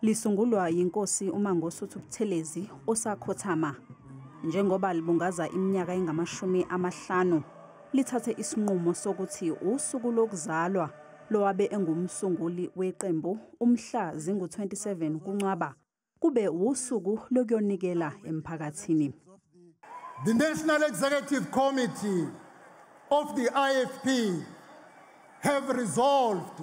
Lisungulwa yinkosi uMangosuthu Buthelezi osakhothama njengoba libungaza iminyaka engamashumi amahlanu lithathe isinqumo sokuthi usuku lokuzalwa lowabe engumsunguli weqembu umhla zingu-27 kuNcwaba kube wusuku lokuyonikela emphakathini. The National Executive Committee of the IFP have resolved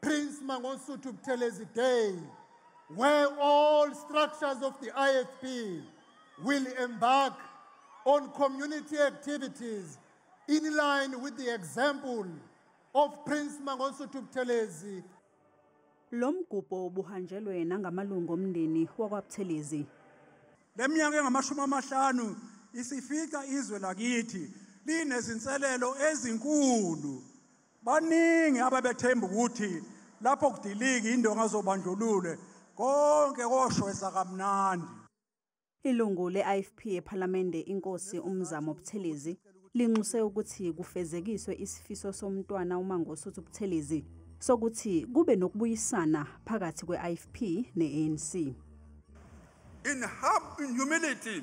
Prince Mangosuthu Buthelezi Day, where all structures of the IFP will embark on community activities in line with the example of Prince Mangosuthu Buthelezi. Lo mgubho ubuhanjelwe nangamalungu omndeni wakwaButhelezi. Le minyaka engamashumi amahlanu isifica izwe lakithi linezinselelo ezinkulu Baningi ababethemba ukuthi lapho kudiliki indonga zobandlulule konke koshwesa kamnandi. Ilungu le-IFP ePhalamende inkosi uMzamo Buthelezi linxuse ukuthi kufezekiswe isifiso somntwana uMangosuthu Buthelezi sokuthi kube nokubuyisana phakathi kwe-IFP ne-ANC. In humility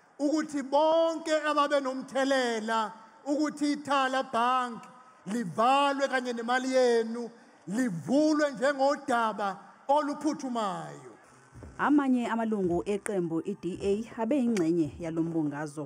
ukuthi bonke ababenomthelela ukuthi ithala bank livalwe kanye nemali yenu livulwe njengodaba oluphuthumayo amanye amalungu eqembu iDA abeyingxenye yalombungazo